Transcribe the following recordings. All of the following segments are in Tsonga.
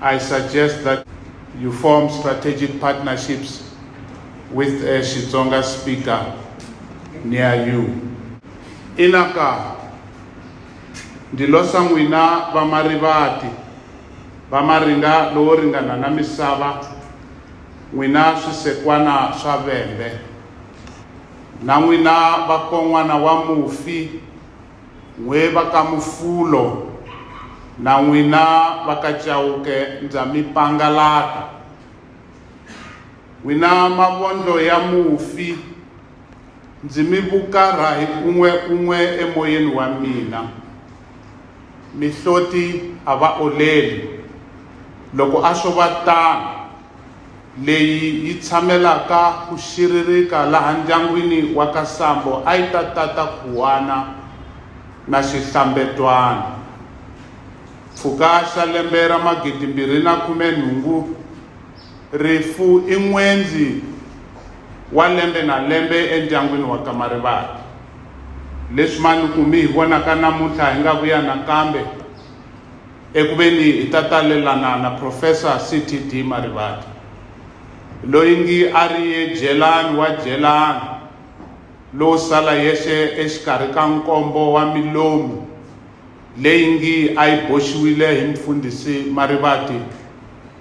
I suggest that you form strategic partnerships with a Xitsonga speaker near you. Inaka, ndi lo sa n'wina va marivati va maringa lowo ringana na misava n'wina swisekwana swa vembe na n'wina vakon'wana wa mufi N'we va ka Mufulo, na n'wina va ka Chauke ndza mi pangalata. N'wina mavondlo ya mufi, ndzi mi vukarha hi un'we-un'we emoyeni wa mina. Mihloti a va oleli, loko a swo va tano, leyi yi tshamelaka ku xiririka laha ndyangwini wa ka Sambo a yi ta tata khuwana na xihlambetwana. Mpfhuka xa lembe ra magidimbirhi na khume nhungu, rifu i n'wendzi wa lembe na lembe endyangwini wa ka Marivate. Leswi Manuku mi hi vonaka namuntlha hi nga vuya nakambe, eku veni hi ta talelana na Profesa CTD Marivate, loyi ngi a ri jelani wa jelani lo sala yexe exikarhi ka nkombo wa milomu leyi ngi a yi boxiwile hi Mufundhisi Marivate.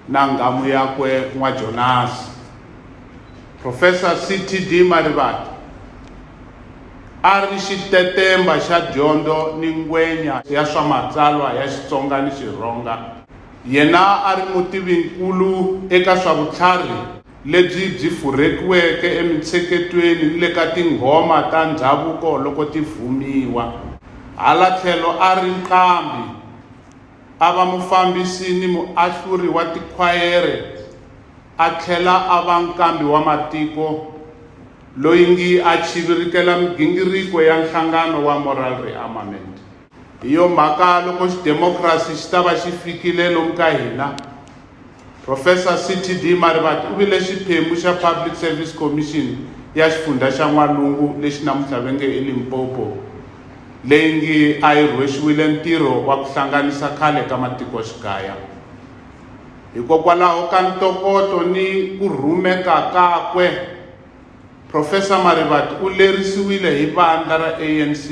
na nghamu yakwe N'wa-Jonasi. Profesa CTD Marivate a ri xitetemba xa dyondzo ni ngwenya ya swa matsalwa ya Xitsonga ni Xirhonga. Yena a ri mutivinkulu eka swa vutlharhi lebyi byi furhekiweke emintsheketweni ni le ka tinghoma ta ndhavuko loko ti vhumiwa. Hala tlhelo a ri nqambi. a va mufambisi ni muahluri wa tikhwayere a tlhela a va nkambi wa matiko loyi ngi a chivirikela migingiriko ya nhlangano wa Moral Rearmament. Hi yo mhaka loko xidemokhrasi xi ta va xi fikile lomu ka hina, Professor CTD Marivate u vile xiphemu xa Public Service Commission ya xifundzha xa N'walungu lexi namuntlha ve nge i Limpopo, leyi ngi a yi rhwexiwile ntirho wa ku hlanganisa khale ka matikoxikaya. Hikokwalaho ka ntokoto ni ku rhumeka kakwe, Professor Marivate u lerisiwile hi vandla ra ANC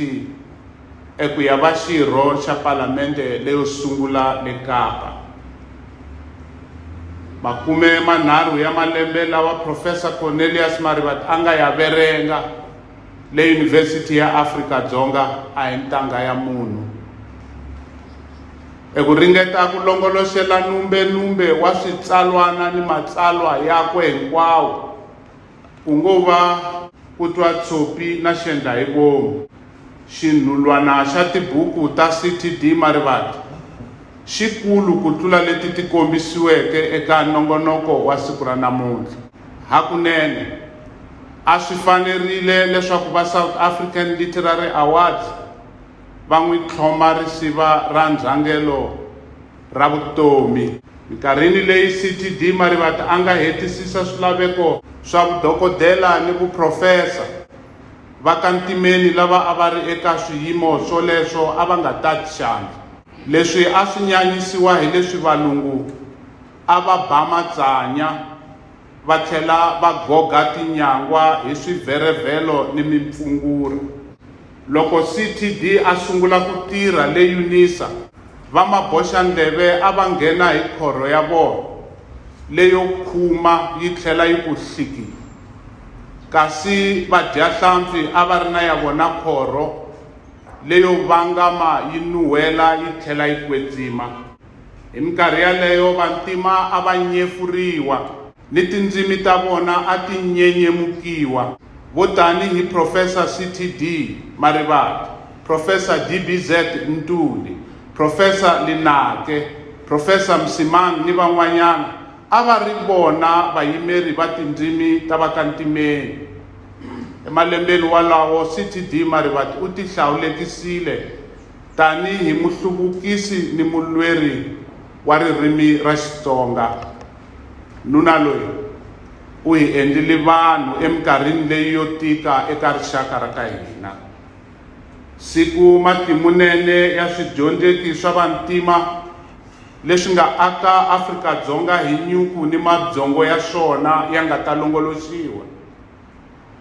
eku ya va xirho xa palamende leyo sungula le Kapa. Makume manharhu ya malembe lawa Professor Cornelius Marivate a nga ya verenga le Yunivhesiti ya Afrika Dzonga a hi ntangha ya munhu. eku ringeta ku longoloxela numbe-numbe wa switsalwana ni matsalwa yakwe hinkwawo, ku ngo va Ku Twa Tshopi na Xendla Hi Vomu. Xinhulwana xa tibuku ta CTD Marivate xi kulu ku tlula leti ti kombisiweke eka nongonoko wa siku ra namuntlha. Hakunene, a swi fanerile leswaku va South African Literary Awards, va n'wi tlhoma risiva ra ndzhangelo ra vutomi. Minkarhini leyi CTD Marivate a nga hetisisa swilaveko swa vudokodela ni vuprofesa, va ka Ntimeni lava a va ri eka swiyimo swoleswo a va nga tati xandla. Leswi a swi nyanyisiwa hi leswi valungu a va ba matsanya va tlhela va goga tinyangwa hi swivherevhelo ni mimpfungura. Loko CTD a sungula ku tirha le Unisa, vamaboxandleve a va nghena hi khorho ya vona leyo khuma yi tlhela yi ku hlikii. Kasi vadyahlampfi a va ri na ya vona khorho leyo vangama yi nuhela yi tlhela yi kwetsima. Hi minkarhi yaleyo vantima a va nyefuriwa. ni tindzimi ta vona a ti nyenyemukiwa, vo tanihi Professor CT. Dee Marivate, Professor DBZ Ntuli, Professor Linaake, Professor Msimang ni van'wanyana a va ri vona vayimeri va tindzimi ta va ka ntimeni. Emalembeni walawo CT. Dee Marivate u tihlawulekisile tanihi muhluvukisi ni mulweri wa ririmi ra Xitsonga. Nuna loyi u hi endlile vanhu eminkarhini leyi yo tika eka rixaka ra ka hina. Siku matimunene ya swidyondzeki swa vantima leswi nga aka Afrika-Dzonga hi nyuku ni mabyongo ya swona ya nga ta longoloxiwa.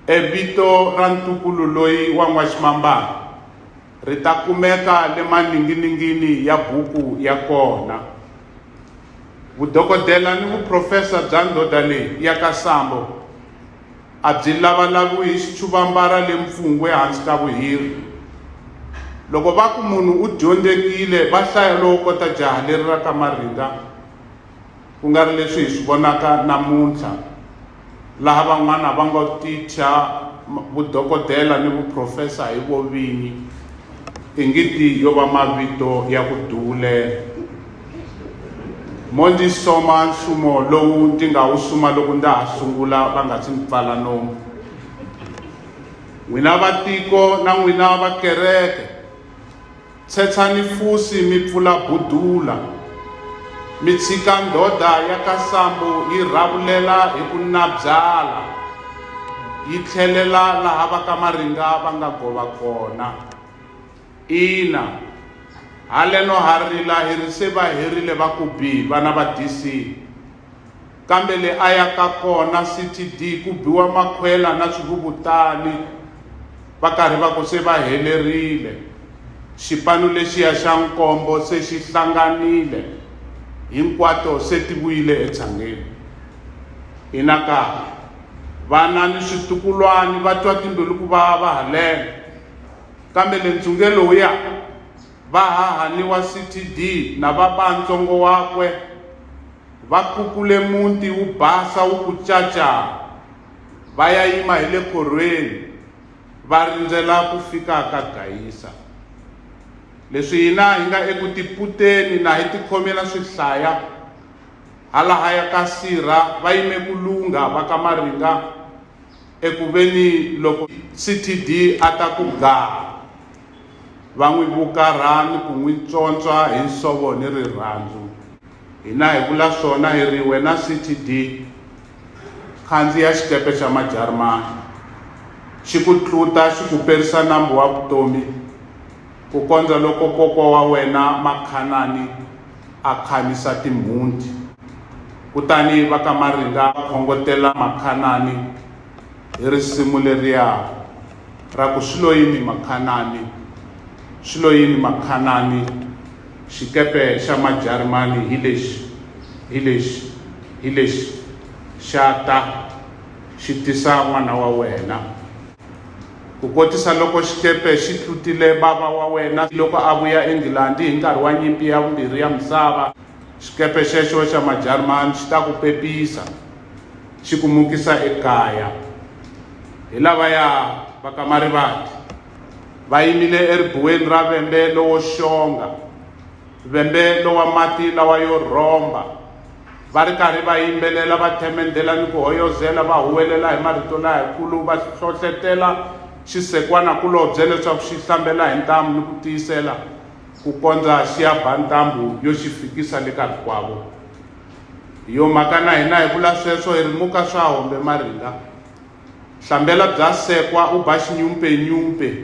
E vito ra ntukulu loyi wa N'waximambana ri ta kumeka le maninginingini ya buku ya kona. Vudokodela ni vuprofesa bya ndhodha leyi ya ka Sambo a byi lavalaviwi hi xichuvambara le mpfungwe hansi ka vuhiri. Loko va ku munhu u dyondzekile va hlaya lowo kota jaha leri ra ka Maringa, ku nga ri leswi hi swi vonaka namuntlha. laha van'wana va ngo ticha vudokodela ni vuprofesa hi vo vinyi ingiti yo va mavito ya ku duwulela mo ndzi soma nsumo lowu ndzi nga wu suma loko ndza ha sungula va nga si ndzi pfala nomu n'wina vatiko na n'wina vakereke Tshetsani fusi mi pfula budula, mi tshika ndhodha ya ka Sambo yi rhavulela hi ku nabyala yi tlhelela laha va ka Maringa va nga gova kona. Ina, haleno ha rila hi ri se va herile va ku bi vana va DC. kambe le a ya ka kona ctd ku biwa makhwela na swivuvutani va karhi va ku se va helerile xipano lexiya xa nkombo se xi hlanganile hinkwato se ti vuyile etshangeni ina ka vana ni switukulwani va twa timbilu ku vava haleno kambe le ntsungelo wu ya va hahani wa CTD na va ba ntsongo wakwe, va kukule muti wu basa wu ku caca, va ya yima hi le khorhweni va rindzela ku fika ka Gayisa. Leswi hina hi nga eku tiputeni na hi tikhomela swihlaya, halahaya ka sirha va yime ku lungha va ka Maringa eku veni loko CTD a ta ku gaa, va n'wi vukarha ni ku n'wi tswontswa hi nsovo ni rirhandzu hina hi vula swona hi ri wena ctd khandziya xikepe xa majarimani xi ku tluta xi ku perisa nambu wa vutomi ku kondza loko koko wa wena makhanani a khanisa timhunti kutani va ka maringa khongotela makhanani hi risimu leriya ra ku swi lo yini makhanani swi lo yini makhanani xikepe xa majarimani hi lexi hi lexi hi lexi xa ta xi tisa n'wana wa wena ku kotisa loko xikepe xi tlutile bava wa wena loko a vuya engilandi hi nkarhi wa nyimpi ya vumbirhi ya misava xikepe xexo xa majarimani xi ta ku pepisa xi ku mukisa ekaya hi lavaya va ka marivati va yimile eribuweni ra vembe lowo xonga vembe lowa mati lawa yo rhomba va ri karhi va yimbelela va themendela ni ku hoyozela va huwelela hi marito layakulu va hlohletela xisekwana kulobye leswaku xi hlambela hi ntamu ni ku tiyisela ku kondza xi ya ba ntambu yo xi fikisa le ka rikwavo hi yo mhaka na hina hi vula sweswo hi ri muka swa hombe maringa hlambela bya sekwa u ba xinyumpenyumpe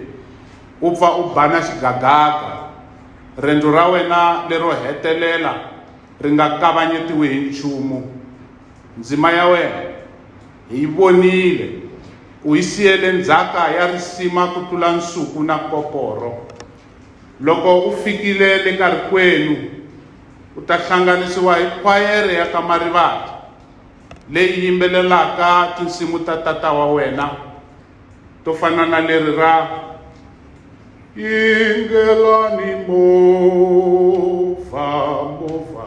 u pfa u bana xigagaka rendzo ra wena lero hetelela ri nga kavanyetiwi hi nchumu ndzima ya wena hi yi vonile u yi siyele ndzhaka ya risima ku tlula nsuku na koporo Loko u fikile le ka rikwenu, u ta hlanganisiwa hi khwayere ya ka Marivate leyi yimbelelaka tinsimu ta tata wa wena to fana na leri ra Yingelani movha movha